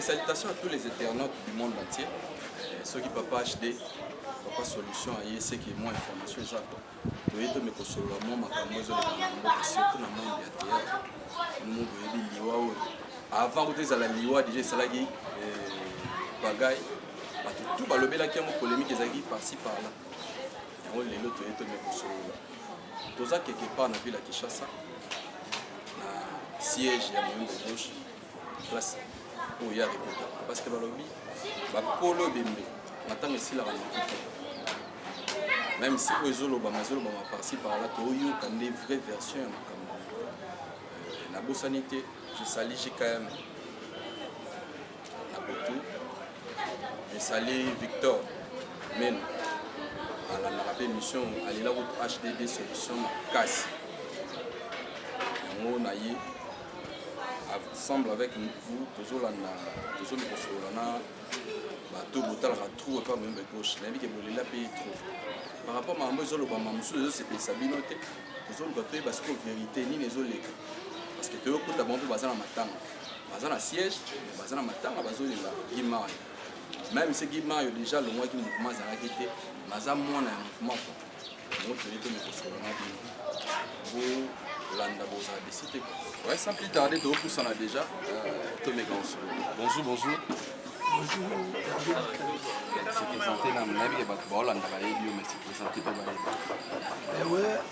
salutations à tous les internautes du monde entier euh, ceux qui papa hd papa solution aye eseki mwa information eza ko toye tome kosolola mwa makambo ezoleka na mboka surtout na monde ya théâtre nomo boyebi liwa oyo avant kuta ezala liwa déjà esalaki euh, bagaille bato tout balobelaki yango polémique ezalaki parci parla yango lelo toye tone kosolola toza quelque part na ville ya kinshasa na siège ya moyombo gauche place oyo ya repota parce que balobi bakolo ebembe na ntango esilaka makuta même si oyo ezolobama ezolobama parci parla toyoka nde vraie version ya makambo euh, nabosani te je sali jkm na butu esali victor meno alandaka mpe émission alela kutu hdb solution makasi yango na ye ensemble avec vous tozolanda tozomi kosolola na bato botalaka trou epa boyemba gauche nayebi ke bolela mpe trou par rapport makambo ezolobama mosusu ezosepelisa bino te tozoluka toyeba sikoyo verité nini ezoleka parce que toyokota bango mpe baza na matanga baza na siège baza na matanga bazolinga gimayo meme se gimayo déjà alongwaki mouvement azalaki te naza mwana ya mouvement po yango toye te mokosolo na bino bolanda bozala desi te ouais sans plus tarder tokopusana déjà euh, tomeka mosolo bonjour bonjour se présente na monabi ya bato baolandaka yebi yo mais se présente mpe bayebi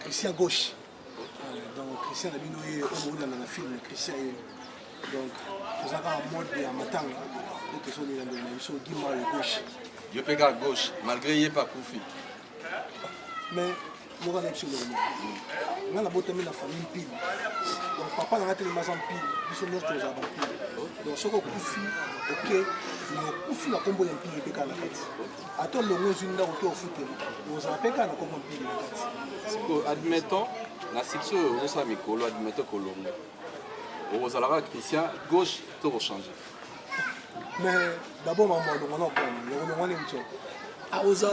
Christian gauche donc Christian na bino ye oyo bolanda na film Christian ye donc toza kaka mode ya matanga nde tozolela ndelo na biso gima ya gauche yo mpe kaka gauche malgré ye mpe akufi mais moko na biso eloko nga nabotami na famille mpili donc papa na nga telema aza mpili biso nyonso tozala bampili donc soki okufi oke mais okufi na nkombo ya mpili mpe kaka na kati ata olongo ozwi ndako to ofuteli ozala mpe kaka na kombo mpili na kati sikoyo admettons na succès oyo ozosala mikolo admettons kolongo okozala kaka christian gauche to kochange mais d'abord mambo alongo na okona olongo nini tio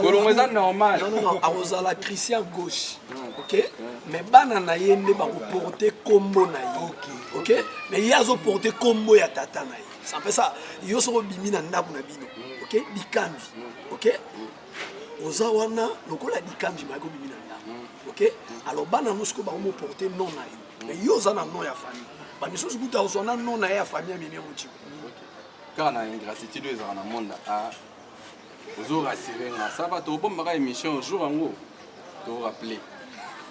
kolongo eza normal akozala christian gauche hmm. ok hmm. mais bana na ye nde bakoporte kombo na ye ok mais ye azoporte kombo ya tata na ye ça fait ça yo soko bimi na ndaku na bino OK bikambi OK oza wana lokola bikambi ma ko bimi na ndaku OK alors bana nous ko ba mo porter non na yo mais yo oza na non ya famille ba misusu kuta ozwa na non na ya famille ya mimi mochiko kaka na ingratitude ezalaka na monde a ozo rassurer nga ça va tokobombaka émission jour yango torappele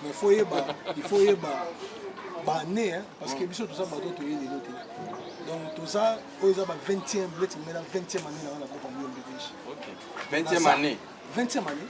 mais faut yeba il faut yeba bane hein, parce que biso toza bato toye lelo te donc toza oyo eza ba 20e bleti mela 20e année na wana kopa mio mbedege 20e année 20e année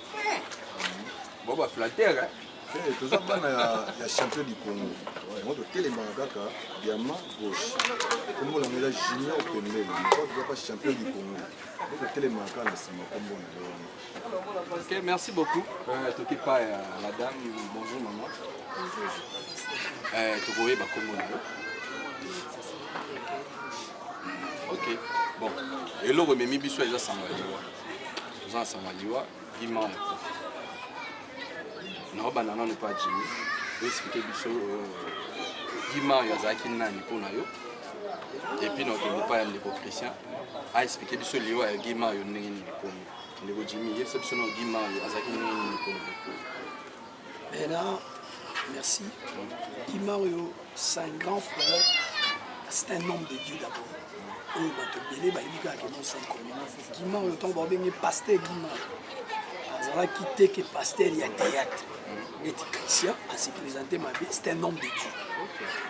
Bon ba flatteur hein. Eh, toza bana ya champion du congo yango totelemaka kaka diama gauche nkombo na ngela junior pembele tozaka champion du congo po totelemaka kaka na nsima nkombo na yo wana ok merci beaucoup euh, toki pa ya la dame bonjour maman euh, tokoyeba nkombo na yo ok bon eloko ememi biso eza sango ya liwa toza na sanga liwa bima ya kofi naobanda nanu mpa jimi oexplike biso bima euh, oyo azalaki nani mpo na yo epuis na okende mpa ya ndeko christian aexplike biso liwa ya gima oyo ndenge nini ekomi ndeko jimi yebisa biso na gima oyo azalaki ndenge nini mpo na yo Bena, merci. Kimario, c'est un grand frère. C'est un homme de Dieu d'abord. oyo bato ebele bayebi kaka ke mosankolo kima oyo ntango babenge paster kima azalaki te ke paster ya théâtre neti christian ase présente mabe c'est un homme de dieu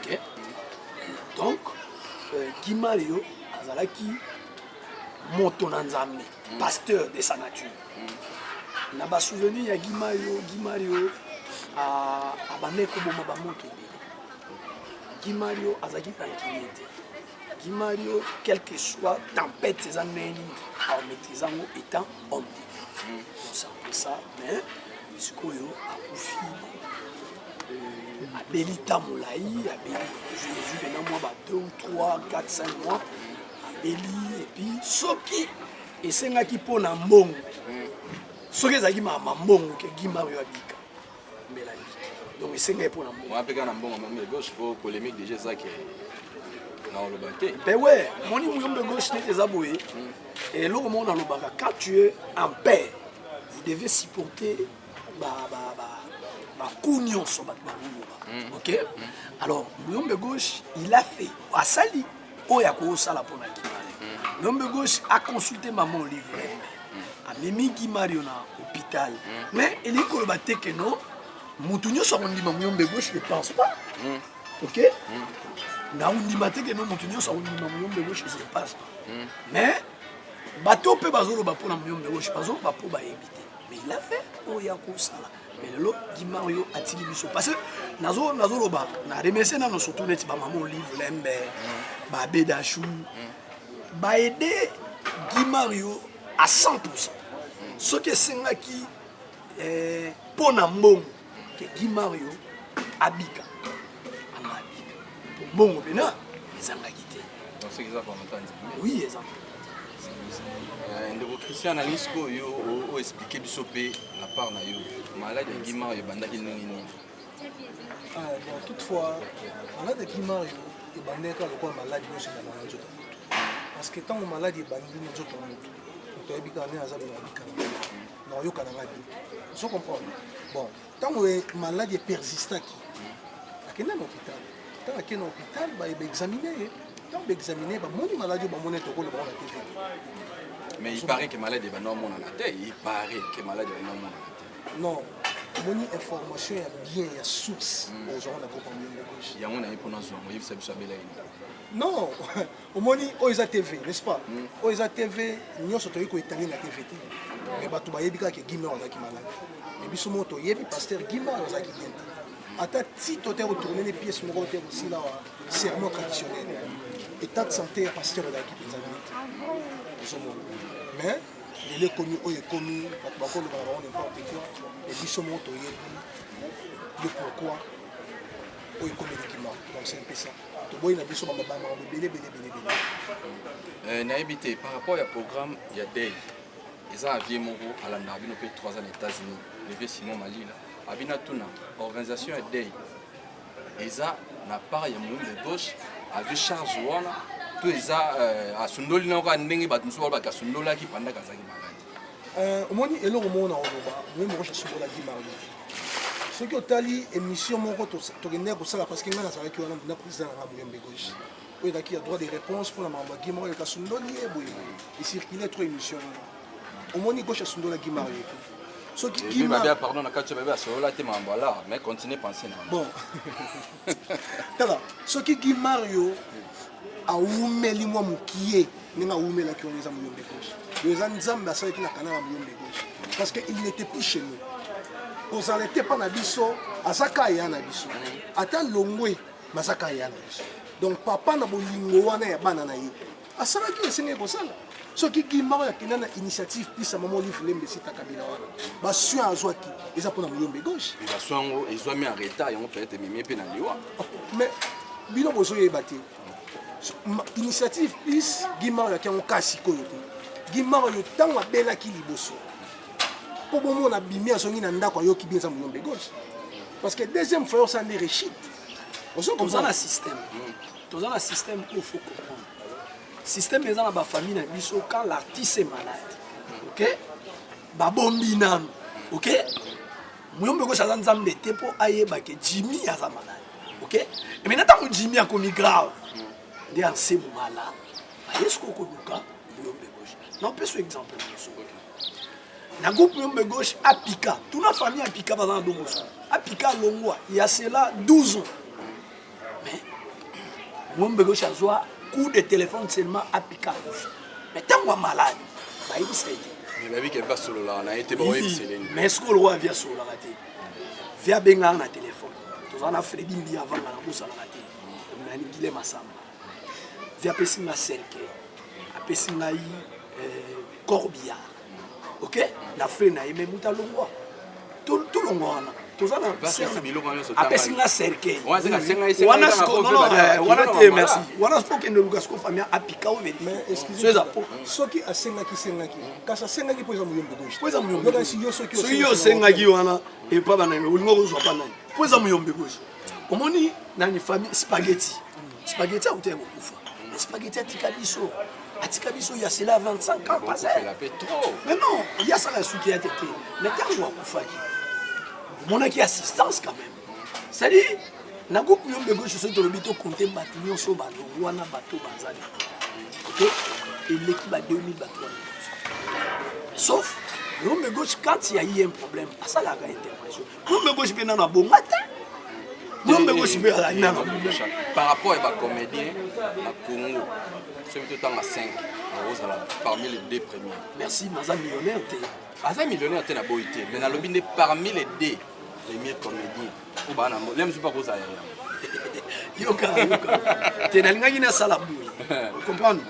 okay? donc euh, kimario azalaki moto na nzambe pasteur de sa nature na ba souvenir ya Gimario Gimario abandaki koboma bamoto ebele Gimario azalaki rancunier te Gimario quelque soit tempête eza ndenge nini aomaîtrise yango étant homme de Dieu osampesa mais sikoyo akufi euh, abeli ntan molai abeli jésus pena mwa ba 2 ou 3 4 5 mois abeli epuis soki esengaki mpo na mbongo soki ezalaki mama mbongo ke gi mario abika mbela biki donc esengaki mpo na mbongo mpe kaka na mbongo mame gauche mpo polémique déjà ezaki na oloba te mpe we moni muyombe gauche neti eza boye eloko moko nalobaka quand tu es en paix vous devez supporter baku nyonso bato bakoloba mm. ok mm. alors muyombe gauche il a fait asali oyo akosala mpo na kimari mm. muyombe gauche aconsulte mama olive lembe amemi kimario na hôpital mais elingi koloba te ke no motu nyonso akondima muyombe gauche ne pense pas ok nakondima te ke no motu nyonso akondima muyombe gauche ne pense pas mais bato mpe bazoloba mpo na muyombe gauche bazoloba mpo bayebi te mais il a fait oyo ya kosala mais lelo dimario atiki biso parce que nazo nazoloba na remercie nano surtout neti bamama olive lembe mm. babedachou mm. baede dimario à 100 soki esengaki mpo eh, na mbongo ke Guy Mario abika anga abika po mbongo pena ezangaki te soki eza volonté nzambe oui eza euh, ndeko christian na lisiko oyo o explike biso mpe na part na yo maladi ya Guy Mario ebandaki ndenge nini ah, bon toutefois maladi ya Guy Mario ebandaki kaka lokola maladi nyonso ebandaka na nzoto parce que ntango maladi ebandi na nzoto ya moto moto ayebi kaka nde aza bela bikana na oyoka na ngai ozo comprendre bon ntango maladi epersistaki akenda na hôpital ntango akenda na hôpital baexamine ye ntango baexamine ye bamoni maladi oyo bamoni ete okoloba wana te mais il paraît que malade ebanda omonana te il paraît que malade ebanda omonana te non omoni information ya bien ya source ozwaka na kopa yango naye mpo nazwa yango oyebisa biso abela ye non omoni oyo eza tv n'est-ce pas mm. oyo eza tv nyonso toyei koetale na tv te mais bato bayebi kaka ke gimar azalaki malade mais biso moko toyebi paster gimar azalaki bien te ata tito te kotourne ne pièce moko te kosila wa serment traditionnel état de santé ya paster ezalaki mpenza bien te ozomona mais lelo ekomi oyo ekomi bato bakoloba na bango n'importe quoi e biso moko toyebi le pourquoi oyo ekomi likima donc c'est un peu ça toboyi na biso bamabama ebele ebele ebele ebele eh, nayebi te par rapport ya programme ya day eza na vie moko alandaka bino mpe 3 ans na états-unis leve simon malila abi natuna organisation ya day eza na part ya moyindo gauche azwi charge wana to eza euh, asundoli na yoka ndenge bato mosusu baloba te asundolaki pandaka azalaki maladi Euh, omoni eloko moko na koloba moye moko jesubola di mario soki otali émission moko tokendeki kosala parce que ngai nazalaki wana na président nanga boyembe gauche oyo ezalaki ya droit de réponse mpona makambo ya gimaro yoka sundoli ye boye ecircule trop émission wana omoni gauche asundola gimaro ye soki gimaro pardon na kati babe asololaki makambo ala mais continue penser na bon tala soki gi mario awumeli mwa mokie ndenge awumelaki wana eza molombe gauche oyo eza nzambe asalaki na kanala molombe gauche parce que il n'était plus chez nous kozala ete mpa na biso aza ka ya na biso ata longwe baza ka ya na biso donc papa na bolingo wana ya bana na ye asalaki oyo esengeli kosala soki gimaro ya kenda na initiative pisa mama olive lembe esita kabila wana basoin azwaki eza mpona moyombe gauche basoin yango ezwami en retard yango peut-être ememi mpe na liwa oh, mais bino bozoyeba te initiative plus gimaro yaki yango kaa sikoyo te gimaro yo ntango abelaki liboso mpo bomona bimi azongi na ndako ayoki bien eza moyombe gauche parce que deuxième fois osala nde rechite ozokomzana système mm. toza na système oyo faut comprendre système eza na bafamille na biso quand l'artiste est malade ok babombi nanu ok muyombe kosi aza nzambe te mpo ayeba ke jimmy aza malade ok eme na ntango jimmy akomi grave nde anse momala ayesi kokoluka muyombe gauche naopesa exemple mosu na groupe muyombe gauche apika tuna famille apika baza na dongoso apika alongwa ya sela 12 ans mais ngombe gauche azwa coup de téléphone seulement apika akufi mais ntango ya malade bayebisa ye te mais bayebi ke va sololaka na ye te baoyebisa elenge mais soki oloko ya vi asololaka te vi abengaka na téléphone tozala na fredi mbi avanga na bosalaka te nani gile masamba vi apesi nga cercueil apesi ngai euh, corbillard ok na frais na ye me mutu alongwa tolongwa wana toza na apesi nga cercueil wana sikowana te merci wana siko okende luka siko famille apika o verifieso eza po soki asengaki sengaki kasi asengaki mpo eza moyombo gauche mpo eza moyombo soki yo osengaki wana epa banani olinga kozwa pa nani mpo eza moyombo gauche omoni nani famille spaghetti spaghetti akuta ya kokufa spaghetti atika biso atika biso ya sela 25 ans passé mais non ya sala suki ya tete mais tango akufaki omonaki assistance quand même c'est à dire na groupe yo mbego soso tolobi to compter bato nyonso balongwa na bato bazali ok eleki ba 2000 bato wana sauf l'homme de gauche quand il y a eu un problème asalaka intervention Ngombe gosi mpe nano abonga te ngombe gosi mpe azali nano par rapport ya bacomédien na congo soki totanga 5 akozala parmi les deux premiers merci naza millionnaire te aza millionnaire te na boyi te mais nalobi nde parmi les deux premier comédien oyo baa na lem soki akozala ya yoka yoka te nalingaki nasala boye comprendre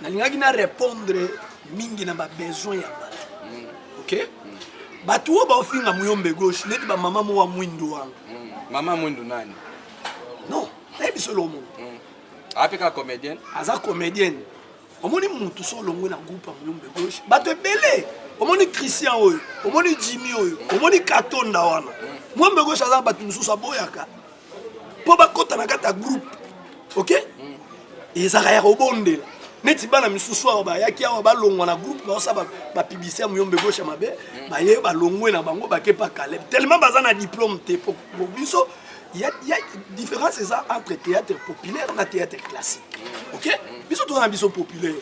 nalingaki na répondre mingi na babesoin ya bato mm. ok mm. bato oyo baofinga muyombe gauche neti bamama mowa mwindu wana mm. mama mwindu nani non nayebi solo omongo mm. ape kaka comédienne aza comédienne omoni mutu so olongwe na groupe ya muyombe gauche bato ebele omoni christian oyo omoni jimi oyo omoni katonda wana mm. mwombe gauche aza bato mosusu aboyaka mpo bakota na kati ya groupe ok ezalaka ya kobondela neti bana misusu awa bayaki awa balongwa na groupe baosa bapiblisite ya moyombe gosha mabe mm. baye balongwe na bango bake pa caleb tellement baza na diplôme te po biso ya différence eza entre théâtre populaire na théâtre classique mm. ok mm. biso toza na biso populaire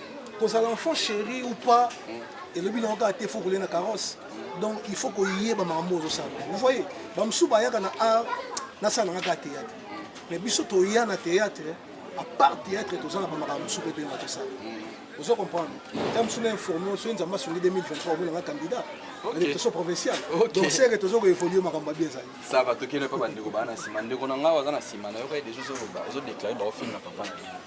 kozala enfant chéri ou pas elobi nango kaka te fo kolia na carrosse donc il faut koyeba makambo ozosala vous voyez bamosusu bayaka na art nasala nanga kaka théâtre mais biso toya na théâtre à part théâtre toza na bamakambo mosusu mpe toyeba tosala ozo comprendre ta mosusu na informe soki nzambe asungi 2023 omonanga candidat na députation provinciale donc seke toza koévolue makambo abi ezali Ça va toke na papa ndeko bana sima ndeko na ngawa zana sima na yoka dejo zo ba zo déclarer ba ofin na papa na bino.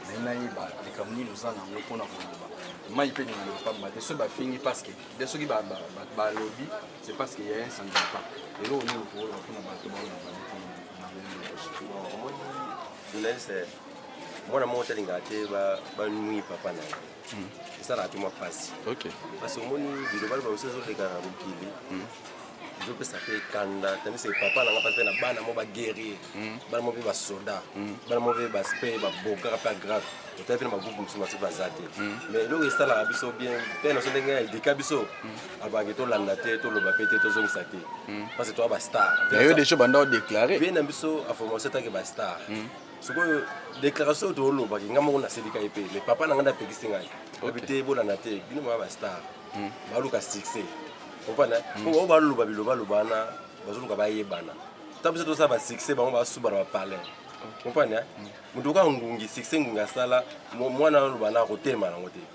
Mais na ye ba le kamuni nous en ango pona ko ba. Mai pe ni na papa te so ba fingi parce que de soki ba ba ba lobby c'est parce qu'il y a un sans pas. Et là on est au pour la pona ba to ba na ba. Journaliste mwana moko talingaka te banui papa na ye hmm. esalaka te mwa mpasi parce omoni bilobali baosi ezoleka na mokili hmm. ezopesa mpe kanda tandise papa nanga mpa mpe na bana mo baguerrier hmm. bana mo mpe basoda bana mo mpe baspe babokaka mpe agrave otali mpe na bagroupe mosusu basi baza te mais eloko esalaka biso bien mpe naso ndenge edika biso abaki tolanda te toloba mpe te tozongisa te parce toa bastar yo deja banda odeklare vie na biso aformation etake bastar sikoyo déclaration oyo toolobaki ngai moko naselika ye mpe mais papa na ngai napekisi ngai oyebi te ebolana te bino mwa bastar hmm. baluka succès opana hmm. oyo baloba bilobaloba wana bazoluka bayebana ta biso tosala basuccès bango basubana bapalin opana hmm. moto oka ngungi succès ngungi asala mwana aloba na akotema yango te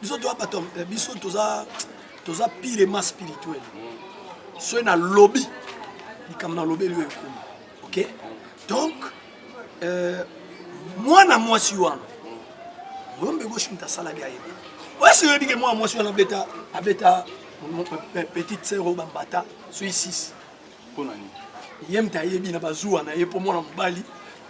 biso toza bato eh, biso toza toza pire ma spirituel soki nalobi likambo nalobeli oyo ekomi ok donc euh, mwana mwasi wana moyombe goshimta asalaki ayeba oyeso oyebi ke mwana mwasi wana abeta abeta petite sœur oyo bambata soki 6 Pona nini? Ye mta yebi na bazuwa na ye po mwana mobali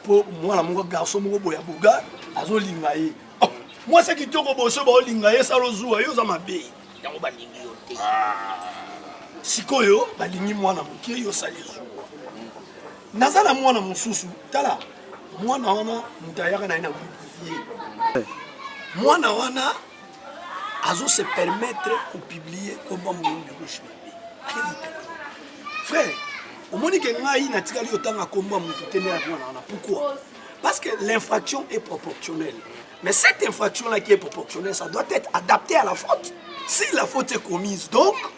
po mwana moko garçon moko boya boga azolinga ye. Oh, mwasi kitoko boso baolinga ye salo zuwa yo oza mabe. Yango balingi yo te. Ah. Sikoyo balingi mwana moke yo sali zuwa. Naza na mwana mosusu tala mwana wana moto ayaka na ye na groupe ye mwana wana azo se permettre ko publier kombo ya mokongo ya gauche mabe allez-vous comprendre frère omoni ke ngai natikali otanga kombo ya moto te nde nakomana wana pourquoi parce que l'infraction est proportionnelle mais cette infraction là qui est proportionnelle ça doit être adapté à la faute si la faute est commise donc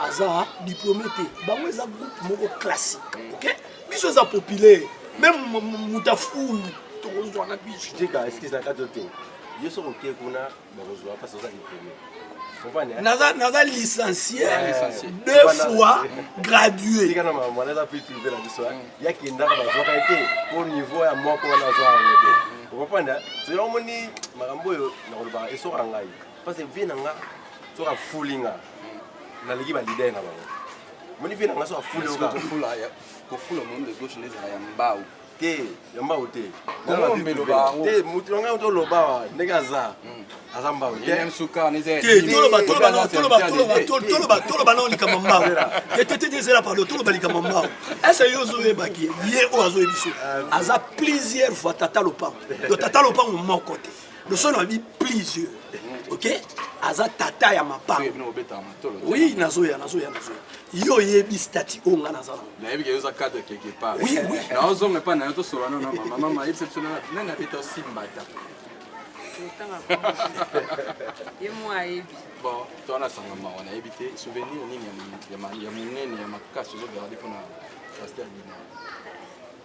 aza diplome te bango eza groupe moko classique mm. ok biso eza populaire meme moto afulu tokozwa na biso tika excuse na kati te yo soki oke kuna bakozwa mpasi oza diplome naza licencie deux fois gradué tika na mamwana eza mpe prive na biso yakendaka bazwaka ye te mpo niveau ya moko wana azwa yango te okompanda soki omoni makambo oyo nakolobaka esoka ngai Parce que vie na nga soki afuli nga naleki ba leader na bango. Moni vie na nga soki afuli nga kofula kofula monde de gauche ndezala ya mbao te ya mbao te te moto na ngai toloba wa ndenge aza hmm. aza mbao toloba nao likambo mbao tetete ezela pardon toloba likambo mbao ese yo ozoyebaki ye oyo azoyebiso euh, aza plusieurs fois tata lopango do tata lopango moko te losolo abi please ok aza tata ya mapango oui nazoya nazoya nazoya yo oyebi stati oyo nga naza nangonaozonga epa nayo tosola no na mama mama ayebisa biso nani abeta osimbata ye mwa ayebi bon towana sanga mawa nayebi te souvenir nini ya monene ya makasi ozogarde mpona pasteur dina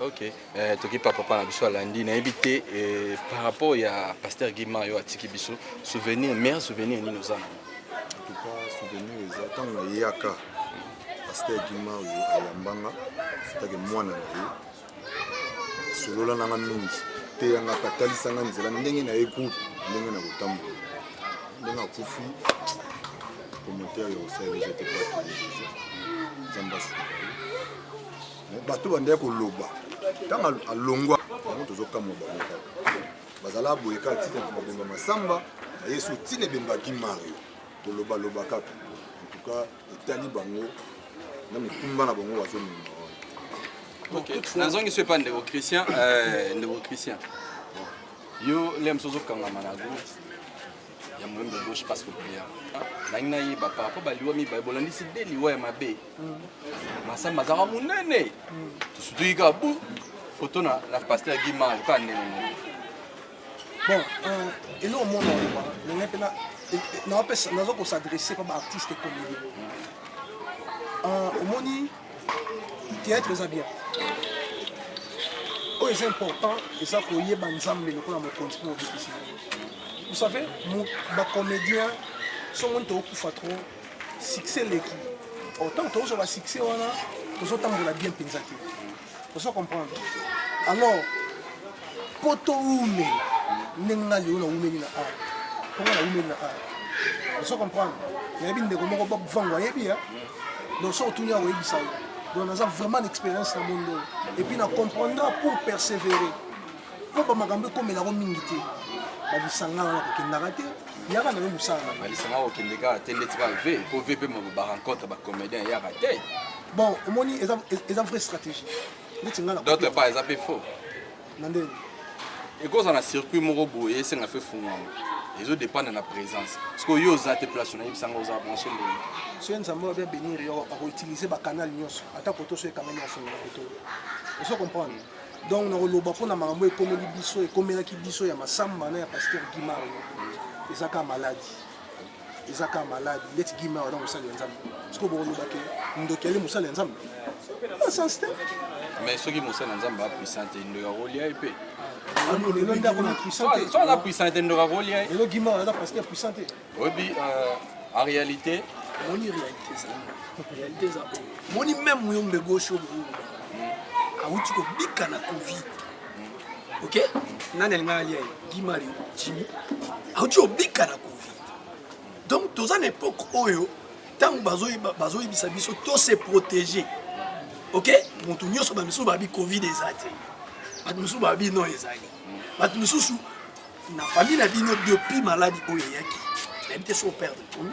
ok eh, tokipa papa na biso alandi nayebi te eh, par rapport ya pasteur gima yo atiki biso souvenir meilleur souvenir nini oza na tuka souvenir eza ntango nayeyaka pasteur gima oyo ayambanga atake mwana na ye solola nanga mingi teyangaka talisanga nzela ndenge na ye groupe ndenge na kotambola ndenge akufi commentaire ya osali ezete nzambe asuka bato bandaki koloba ntango alongwa yango tozokamwa bango kaka bazala boye kaka tika babemba masamba ayesu ntina ebembaki mario tolobaloba kaka entuka etali bango na mikumba na bango bazomema nazongisi epa ndeko christian euh, ndeko christian Yo Lems ozo kangama na go ya moyembe gauche passe ko prière. Nangi na yeba par rapport ba liwa mi ba bolandisi de liwa ya mabe. Masamba zaka munene. Tusutuki ka bu photo na na pasteur Guy Mal ka nene. Bon, euh, et là au monde on est là. Nazo ko s'adresser pa ba artistes comédiens. Euh, omoni Theatre eza bien. Oyo eza important eza koyeba Nzambe lokola mokonzi mpo obikisi. Vous savez, ba comédiens somo tokufa trop succès leki. Autant tozwa ba succès wana tozotambola bien mpenza te. ozo comprendre alors mpo towume ndenge nga lelo nawumeli na art mpo nga nawumeli na art ozo comprendre nayebi ndeko moko bob vango ayebi ya donc soki otuni akoyebisa yo donc naza vraiment na expérience na mondo oyo epuis na comprendra pour persévérer mpo bamakambo ekomelako mingi te balisanga wana kokendaka te yaka na yo mosala na balisanga kokende kaka te ndeti kaka ve mpo ve mpe barencontre bacomédien yaka te bon omoni eza eza vraie stratégie neti nga na d'autre part eza pe faux na ndenge ekozala na circuit moko boye esenga fe fungwama ezo dépendre na présence parce que yo oza te place na yebisa nga oza branché ndenge soki nzambe oyo bien bénir yo akoutiliser bacanal nyonso ata koto soki ekangami afungola koto ozo comprendre donc nakoloba mpo na makambo ekomeli biso ekomelaki biso ya masamba na ya pasteur gimar eza kaka maladi eza kaka malade ndeti gima wana mosali ya nzambe siko bokoloba ke ndoki ali mosali ya nzambe sens te mais soki mosali ya nzambe apuissant te ndoki akolia ye mpe lelo nde akona puissant te so aza puissant te ndoki akolia ye lelo gima wana parce que puissant te oyebi euh, en réalité moni réalité eza réalité eza oyo moni même yo mbegosho boyoloba awuti kobika na covid Ok, nani alinga alia Guy Mario, Jimmy, auti obika na Covid. Donc toza na époque oyo ntango bazoyebisa biso to se protéger. Ok, moto nyonso ba misusu babi Covid eza te. Bato misusu babi non ezali. Bato misusu na famille na bino depuis maladi oyo eyaki, nayebi te so perdre combien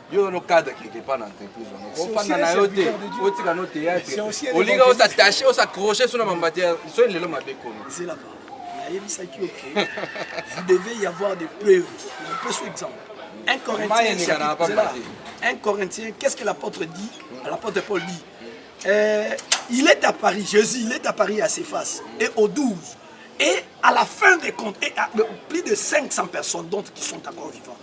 yo no cadre quelque part na entreprise wana ofanda na yo te otika no théâtre olinga osatache osacroche so na mambati ya so lelo mabe kono nayebisaki yo ke vous devez y avoir des preuves je peux sous exemple un corinthien un corinthien qu'est-ce que l'apôtre dit l'apôtre paul dit euh, il est à paris jésus il est à paris à ses faces et au 12 et à la fin des comptes et à, plus de 500 personnes donc qui sont encore vivants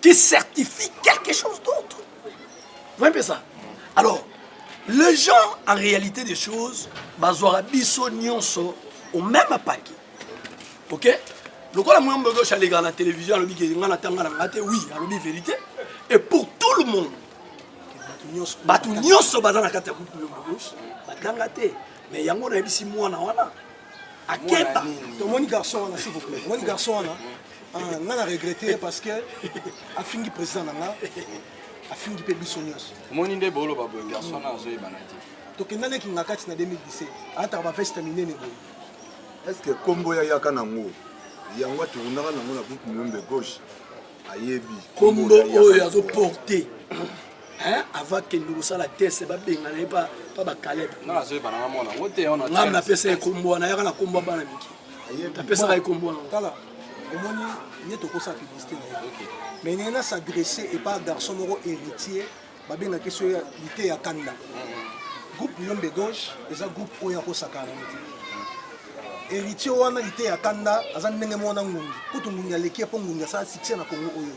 qui certifie quelque chose d'autre. Vous voyez ça Alors, les gens, en réalité des choses, bazwaka biso nyonso au même paquet. Ok lokola moya mbogosh alekaka na télévision alobi ke nga natanga na nga te oui alobi vérité et pour tout le monde bato nyonso baza na kati ya groupe moya mbogosh batanga te mais yango nayebisi mwana wana akeba tomoni garçon wana s'il vous plaît tomoni garçon wana Ah, nga na regrette ye parce que afingi président na nga afingi mpe biso nyonso omoni nde boloba boye garçon na azoyebana te tokenda leki nga kati na 2017 ataka baveste minene boye est ce que kombo ya yaka nango yango atournaka nango na groupe muyombe gauche ayebi kombo oyo azoporte hein avant kende kosala test babengana ye pa bakalebe ngai napesa ye kombo wana yaka na kombo ya bana mike napesaka ye kombo wana omoni ye tokosa publicité na ye mais ndenge na s'adresse epa garçon moko héritier babengaki so lite ya kanda mm-hmm. groupe liyombe gauche eza groupe oyo akosakana yango te héritier wana lite ya kanda aza ndenge moko na ngungi kutu ngungi aleki ye mpo ngungi asala succès na congo oyo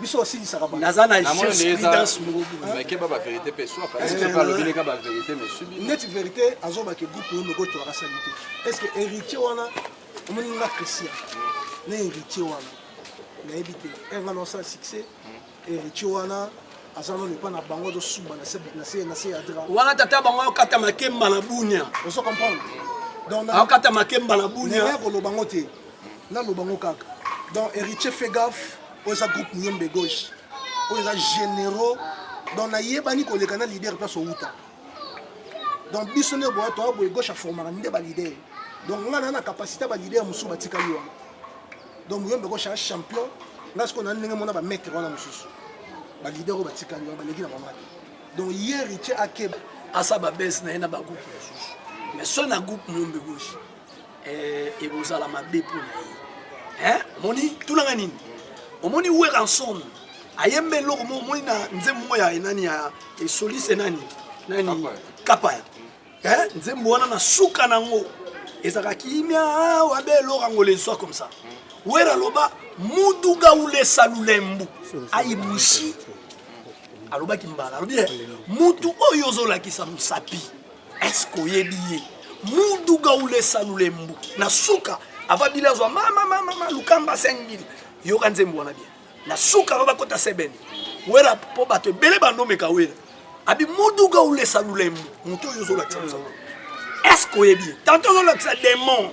biso basilisaka naza na jespridensmokeba baverité mpe soakalobineka baverité mesubi neti verité azobake groupe oyo moko toaka sali te est ce que héritier wana omoni nga christian na héritier wana nayebi te erga na osala succès héritier wana aza nano epa na bango azosuba na se ya dra wana tata bango akata makemba na bunia ozo comprendre akata makemba na bunia koloba ngo te nanu bango kaka donc héritier fait gaffe oyo eza groupe miyombe gauche oyo eza généraux donc nayebani koleka na leader place owuta donc biso nde boya toya boye gauche aformaka nde baleader donc ngai naa na capacité ya baleader mosusu batikali wana donc muyombe gauche ya champion ngai sikoyo na ndenge mona bamaitre wana mosusu baleader oyo batikali wana baleki na bango te donc ye héritier akeba asa babese na ye na bagroupe mosusu mais so na groupe muyombe gauche eh, ekozala mabe mpo na ye eh, omoni tunanga nini omoni weranson ayemba eloko mo omoni na nzembo moko ya enani ya esolise nani nani kapaya eh, nzembo wana na suka nango ezalaka kimia awa be eloko yango lenswa comme ça wera aloba muduga ulesa lulembu ayibushi alobaki mbala alobi eh, mutu oyo ozolakisa mosapi Est-ce que oyebi ye? Muduga ulesa lulembu na suka ava bile azwa mama mama mama lukamba 5000 yoka nzembo wana bien na suka ava bakota sebene wera mpo bato ebele bandomeka wera abi muduga ulesa lulembu moto oyo ozolakisa mosala est-ce que oyebi ye tante ozolakisa demon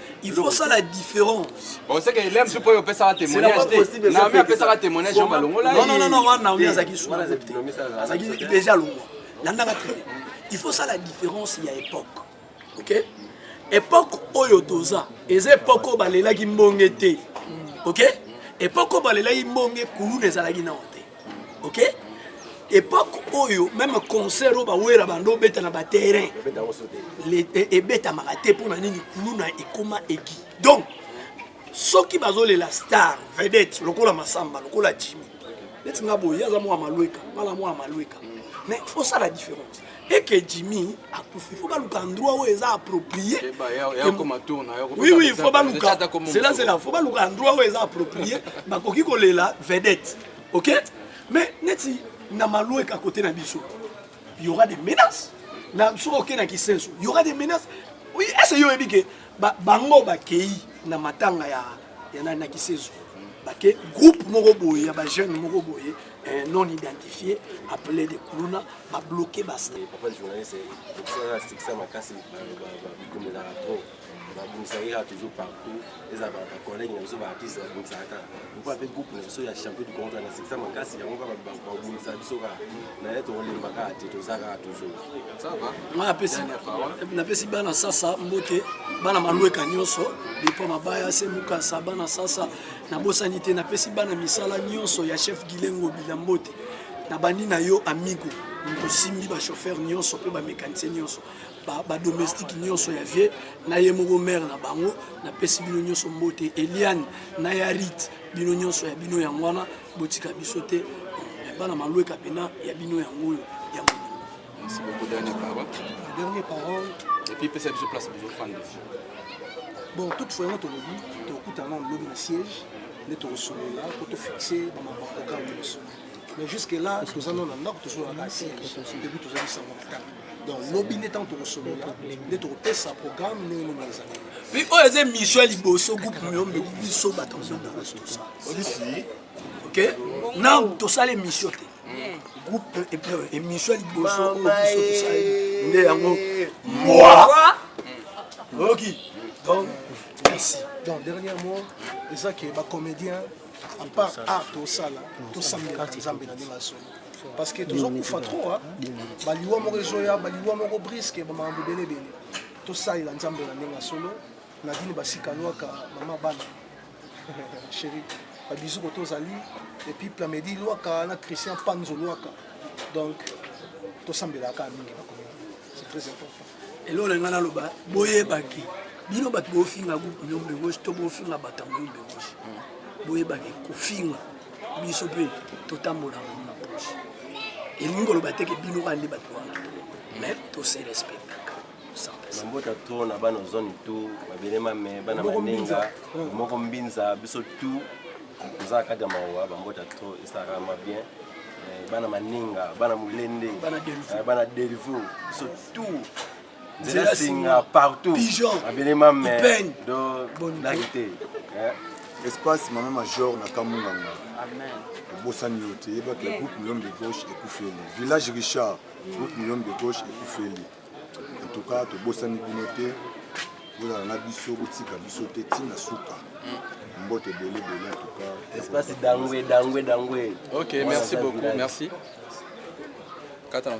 il faut ça la différence bon c'est que Eliam supo yo pesaka témoignage te Naomi apesaka témoignage yo balongola non non non wana Naomi azaki supo azaki déjà longwa landaka très bien il faut ça la différence ya époque ok époque oyo toza eza époque oyo balelaki mbonge te ok époque oyo balelaki mbonge kuluna ezalaki nao ok epoque oyo meme concert oyo bawera bando obeta na baterrain e, ebetamaka te mpo na nini kuluna ekoma egi donc soki bazolela star vedette lokola masamba lokola jimi neti nga boye aza mwa malweka ngala mwa malweka mais fosala différence eke jimi akufi fo baluka endroit oyo eza approprie oui oui fo baluka selazela fo baluka endroit oyo eza approprie bakoki kolela vedette ok mais neti na malueka kote na biso y aura des menaces na soki oke na kisenso y aura des menaces oui, ese yo oyebi ke bango bakei na matanga ya, ya na, na kisenso bake groupe moko boye ya bajeune moko boye eh, non identifié appelé de kuluna babloke basta papa journaliste okosalana stikisa makasi bikomelaka trop bakumisaki kaka toujours partout eza bacollègue na biso baartiste bakumisaka kaka lokola mpe groupe na biso ya champion du congo na sikisa makasi yango kaka bakumisa biso kaka naye tokolemba kaka te toza kaka toujours napesi bana sasa mbote bana malweka nyonso bipo mabaya se mukasa bana sasa nabosani te napesi bana misala nyonso ya chef gilengo bila mbote nabandi na yo amigo tosimbi bachauffeur nyonso mpe bamekanise nyonso ba domestique nyonso ya vie na ye moko mare na bango napesi bino nyonso mbote eliane na ya rite bino nyonso ya bino yango wana botika biso te bana malweka mpena ya bino yango oyo ya Merci beaucoup, dernière parole. Dernière parole. Et puis, peut-être que je place plusieurs fans dessus. Bon, toute fois, on te lobby, tu écoutes un lobby de siège, on te reçoit là, pour te fixer dans ma programme. Mais jusque-là, nous allons dans le nord, toujours à la siège, depuis tous les 124. donc lobi nde ntango tokosolola nde tokopesa programme ndenge nini ezali mpe oyo eza émission ya liboso groupe miyombe biso bato tosala ok na tosala émission te groupe émission ya liboso oyo biso tosali nde yango mwa oyoki donc merci donc dernier mot eza ke bacomédien apart art tosala tosambela nzambe na ndenge ya solo parce que tozokufa trop ah. baliwa moko ezoya baliwa moko briske bamakambo ebele ebele tosalela nzambe na ndenge ya solo nadine basika lwaka mama bana chéri babizu koto ozali epuis plamedi lwaka na christian panzo lwaka donc tosambelaka mingi na komina c'est très important eloko na ngai naloba boyebaki bino bato bofinga groupe union de gauche to bofinga bato ya union de gauche boyebaki kofinga biso mpe totambola yango na poche elingi koloba te ke bino kaka nde bato wana mais tose respectaka mabota to na bana zone to babele mame bana manenga moko mbinza biso tu tozalaka kati ya mawa bambota to esalaka ma bien eh, bana maninga bana molende bana eh, delvo biso tout nzela singa partout abele mame do laki te eh. espace mama major na kamunganga obosani yo te yebaka groupe million de gauche ekufeli village richard groupe million de gauche ekufeli En tout cas, tobosani bino te, bozala na biso, botika biso te ntina suka. Mbote ebele ebele en tout cas. Espace dangwe dangwe dangwe. Ok, merci beaucoup, merci. Kata na